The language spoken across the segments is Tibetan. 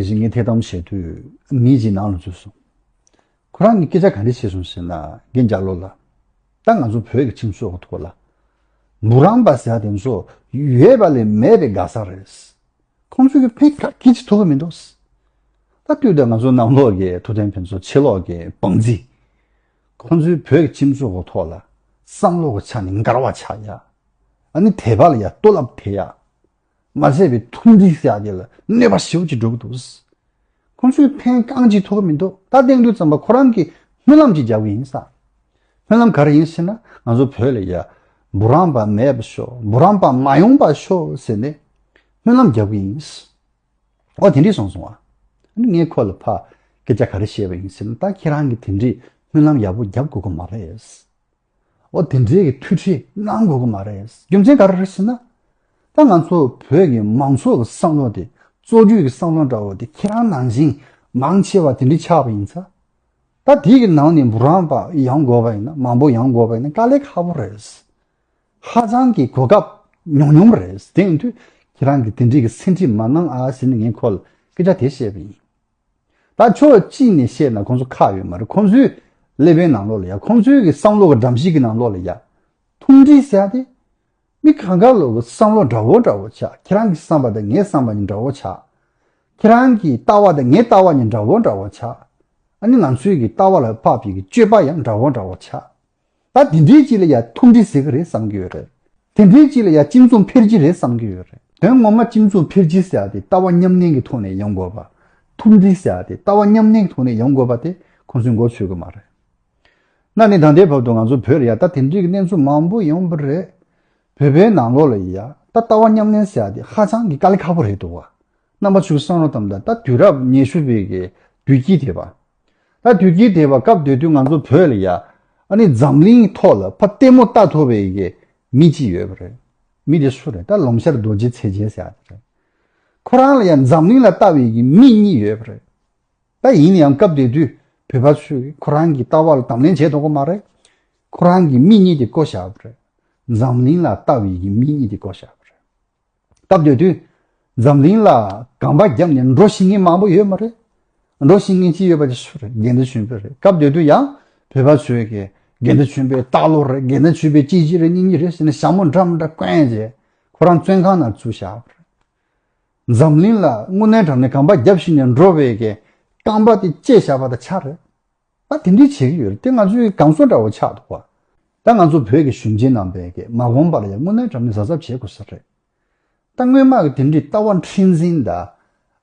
དེ་བཞིན་ངས་ཐད་གཏམ་བཤད་དུས་མི་གཅིག་ནང་ལ་འཛུལ་སོང། ཁོ་རང་གིས་སྐད་ཆ་ག་རེ་བཤད་སོང་ཟེར་ན་རྒན་རྒྱ་ལོ་ལ། ད་ང་ཚོ་བོད་ཀྱི་ཁྲིམས་སྲོལ་གྱི་ཐོག་ལ། འབུ་རམ་པ་ཟེར་བ་དེ་ཚོ་ཡོད་པ་ལས་མེད་པའི་དགའ་ས་རེད། ཁོང་ཚོས་ཀྱང་ཕན་ཁ་ཁྱི་གཅིག་ཐུབ་ཀྱི་མི་འདུག། ད་ལྟོས་དང་ང་ཚོ་ནང་ལོག་གི་ཐུབ་བསྟན་ཕན་ཚོ་ཕྱི་ལོག་གི་བང་རྩིས། ཁོང་ཚོས་བོད་ཀྱི་ཁྲིམས་སྲོལ་གྱི་ཐོག་ལ་བསམ་བློ་གྱི་ཆ་ནས་མགར་བ་ཆགས་ཡ། ཨ་ནི་དེ་བ་ལ་ཡ་ལྟོ་ལབ་ཐེ་ཡ། མ་བཟད་པའི་ཐུགས་འཛིན་བསགས་རྒྱུ་ལ་གནོད་པ་ཞིབ་ཀྱིས་སྒྲོག་འདུག། ཁོང་ཚོས་ཕན་རྐང་གཅིག་ཐོགས་མི་འདུག་ད་ཐེངས་དུས་ཙམ་པ་ཁོ་རང་གིས་སྨོན་ལམ་གཅིག་རྒྱག་གི་ཡིན་བསམ། སྨོན་ལམ་ག་རེ་ཡིན་ཟེར་ན་ང་ཚོ་བོད་ལ་ཡ། འབུ་རམ་པ་མེད་པ་ཤོག་འབུ་རམ་པ་མ་ཡོང་པ་ཤོག་ཟེར་ནས་སྨོན་ལམ་རྒྱག་གི་ཡིན། འོ་དེ་འདྲས་སོང་སོང་ཨ། ཨ་ནི་ངས་ཁོ་ལ་ཕ་སྐད་ཆ་ག་རེ་བཤད་པ་ཡིན་ཟེར་ན་ད་ཁྱེད་རང་གིས་དེ་འདྲས་སྨོན་ལམ་ཡག་པོ་རྒྱབ་དགོས་ཀྱི་མ་རེད། འོ་དེ་འདྲའི་གི་ཐུགས་ཁྲིད་གནང་དགོས་ཀྱི་མ་རེད། རྒྱུ་མཚན་ག་རེ་རེད་ཟེར་ན། ད་ང་ཚོ་བོད་ཀྱི་མང་ཚོགས་ཀྱི་བསམ་བློ་དེ་བཙོག་རྒྱུ་གྱི་བསམ་བློ་འདྲ་བོ་དེ་ཁྱེད་རང་ནང་བཞིན་མང་ཆེ་བ་དེ་འདྲའི་ཆགས་པ་ཡིན་ས། ད་དེ་གི་ནང་ནས་འབུ་རམ་པ་ཡང་དགོས་པ་ཡིན་ན་མང་པོ་ཡང་དགོས་པ་ཡིན་ན་དཀའ་ལས་ཁག་པོ་རེད། ཧ་ཅང་གི་གོ་སྐབས་ཉུང་ཉུང་རེད་དེ་ཡིན་དུས་ཁྱེད་རང་གི་དེ་འདྲའི་གི་སེམས་ཁྲིད་མ་གནང་ཨ་ཟེར་ནས་ངས་ཁོ་ལ་སྐད་ཆ་དེ་བཤད་པ་ཡིན། ད་ཕྱོགས་གཅིག་ནས་བཤད་ན་ཁོང་ཚོ་ཁག་ཡོད་མ་རེད་ཁོང་ཚོའི་ཀླད་པའི་ནང་ལོག་ལ་ཡ་ཁོང་ཚོའི་གི་བསམ་བློ་གི་འགྲམ་གཞི་གི་ནང་ལོག་ལ་ཡ། ཐུང་འདྲིས་བྱས་ཏེ། མི་ག་ག་ལོག་གི་བསམ་བློ་འདྲ་བོ་འདྲ་བོ་ཆགས་ཁྱེད་རང་གི་བསམ་པ་དང་ངའི་བསམ་པ་གཉིས་འདྲ་བོ་ཆགས། ཁྱེད་རང་གི་ལྟ་བ་དང་ངའི་ལྟ་བ་གཉིས་འདྲ་བོ་འདྲ་བོ་ཆགས། ཨ་ནི་ང་ཚོའི་གི་ལྟ་བ་ལ་བབ་པའི་གི་སྤྱོད་པ་ཡང་འདྲ་བོ་འདྲ་བོ་ཆགས། ད་དེ་འདྲའི་སྤྱི་ལ་ཡང་ཐུགས་འདྲི་ཟེར་གྱི་རེད་བསམ་གྱི་ཡོད་རེད། དེ་འདྲའི་སྤྱི་ལ་ཡང་སྤྱི་མཚུངས་འཕེར་གྱི་རེད་བསམ་གྱི་ཡོད་རེད། དོན་ངོ་མ་སྤྱི་མཚུངས་འཕེར་གྱི་ཟེར་བ་དེ་ལྟ་བ་མཉམ་གནས་ཀྱི་ཐོག་ནས་ཡོང་དགོས་པ། ཐུགས་འདྲི་ཟེར་བ་དེ་ལྟ་བ་མཉམ་གནས་ཀྱི་ཐོག་ནས་ཡོང་དགོས་པ་དེ་ཁོང་ཚོས་མགོ་ཚོས་གི་མ་རེད། གནའ་ནས་ད་ལྟའི་བར་དུ་ང་ཚོ་བོད་ལ་ཡང་ད་དེ་འདྲའི་གནས་ཚུལ་མང་པོ་ཡོང་གི་རེད། བོད་པའི་ནང་ལོགས་ལ་ཡང་ད་ལྟ་བ་མཉམ་གནས་ཟེར་བ་དེ་ཧ་ཅང་གི་དཀའ་ལས་ཁག་པོ་རེད་འདུག་བ། རྣམ་པ་ཚོས་བསམ་རོགས་དམ་ད་ལྟ་དུས་རབས་ཉེ་ཤུ་པའི་གི་དུས་དཀྱིལ་དེ་བ། ད་དུས་ཀྱི་དེ་བ་སྐབས་དེ་དུས་ང་ཚོ་བོད་ལ་ཡ། ཨ་ནི་འཛམ་གླིང་ཐོག་ལ་ཕ་ལྟད་མོ་ལྟ་ཐུབ་པའི་ཡི་གེ་མི་གཅིག་ཡོད་པ་རེད། མི་དེ་སུ་རེད་ད་ལོང་ཤར་རྡོ་རྗེ་ཚེ་རྒྱལ་ཟེར་ཡ་དེ་རེད། ཁོ་རང་ལ་ཡ་འཛམ་གླིང་ལ་ལྟ་བའི་ཡི་གེ་མི་གཉིས་ཡོད་པ་རེད། ད་ཡིན་ཡང་སྐབས་དེ་དུས་བོད་པ་ཚོས་ཁོ་རང་གི་ལྟ་བ་ལ་དམ་ལེན་བྱས་འདུག་གོ་མ་རེད། ཁོ་རང་གིས་མི་གཉིས་དེ་བཀོལ་བཞག་པ་རེད། འཛམ་གླིང་ལ་ལྟ་བའི་ཡི་གེ་མི་གཉིས་དེ་བཀོལ་བཞག་པ་རེད། སྐབས་དེ་དུས་འཛམ་གླིང་ལ་གངས་པ་རྒྱབ་ནས་འགྲོ་བཞིན་མཁན་མང་པོ་ཡོད་མ་རེད། འགྲོ་བཞིན་མཁན་གཅིག་ཡོད་པ་དེ་སུ་རེད་དགེ་འདུན་ཆོས་འཕེལ་རེད་སྐབས་དེ་དུས་ཡང་བོད་པ་ཚོས་དགེ་འདུན་ཆོས་འཕེལ་སྟག་ལོ་རེད་དགེ་འདུན་ཆོས་འཕེལ་སྐྱིད་ཆེ་རེད་སྙིང་ཉེ་རེད་ཟེར་ནས་ཞྭ་མོ་འདྲ་མོ་འདྲ་བསྐོན་རྗེས་ཁོ་རང་བཙོན་ཁང་ནང་ཚུད་བཞག་པ་རེད། འཛམ་གླིང་ལ་དངུལ་ནན་གྲམ་ནས་གངས་པ་རྒྱབ་བཞིན་ནས་འགྲོ་བའི་རྐང་པ་དེ་བཅད་བཞག་པ་དང་ཆ་རེད། ད་དེ་འདྲས་བྱེད་ཀྱི་ཡོད་རེད་དེ་ང་ཚོའི་སྒང་ཟོ་འདྲ་བོ་ཆགས་འདུག་བ། ད་ང་ཚོ་བོད་ཀྱི་གཞོན་སྐྱེས་རྣམས་པས་ཀྱེ་མ་གོམས་པར་ཡང་དངོས་གནས་དྲ་མིག་གཟབ་གཟབ་བྱེད་དགོས་ས་རེད། ད་སྔོན་མ་གི་དེ་འདྲས་ལྟ་བ་འཁྲེན་ཟིན་ད།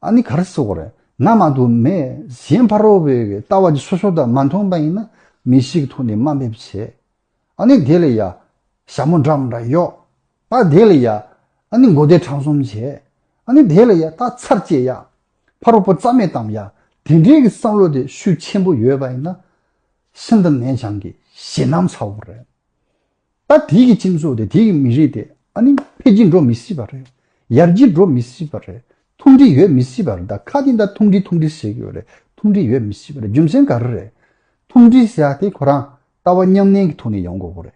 ཨ་ནི་ག་རེ་བཟོ་གི་རེད་ང་མ་གཏོགས་མེད་གཞན་ཕ་རོལ་བོའི་ཀྱི་ལྟ་བ་འདི་སོ་སོ་ད་མ་མཐོང་པ་ཡིན་ན་མི་ཞིག་གི་ཐུགས་ནས་དམའ་འབེབས་བྱེད། ཨ་ནི་དེ་ལས་ཡ། ཞྭ་མོ་འདྲ་མོ་འདྲ་གཡོག། ད་དེ་ལ་ཡ། ཨ་ནི་མགོ་བདེ་དྲང་གསུམ་བྱས། ཨ་ནི་དེ་ལ་ཡ་ད་ཚར་བཅད་ཡ། ཕ་རོལ་པོ་རྩ་མེད་གཏམ་ཡ། དེ་འདྲའི་གི་བསམ་བློ་དེ་ཤུགས་ཆེན་པོ་ཡོད་པ་ཡིན་ན། ཤིན་ཏུ་ནས་བྱང་གི་ཞེ་སྣང་ཚ་བོ་རེད། ད་དེ་གི་སྤྱི་ཚོགས་དེ་དེ་གི་མི་རིགས་དེ་ཨ་ནི་འཕེལ་གྱི་འགྲོ་མི་སྲིད་པ་རེད། ཡར་གྱི་འགྲོ་མི་སྲིད་པ་རེད། ཐུང་འདྲི་ཡོད་མི་སྲིད་པ་རེད་ད་ཁ་དེ་ད་ཐུང་འདྲི་ཐུང་འདྲི་ཟེར་གི་ཡོད་རེད་ཐུང་འདྲི་ཡོད་མི་སྲིད་པ་རེད་རྒྱུ་མཚན་ག་རེ་རེད། ཐུང་འདྲི་ཟེར་ཡ་དེ་ཁོ་རང་ལྟ་བ་ཉམས་ལེན་གི་ཐོག་ནས་ཡོང་དགོས་པོ་རེད།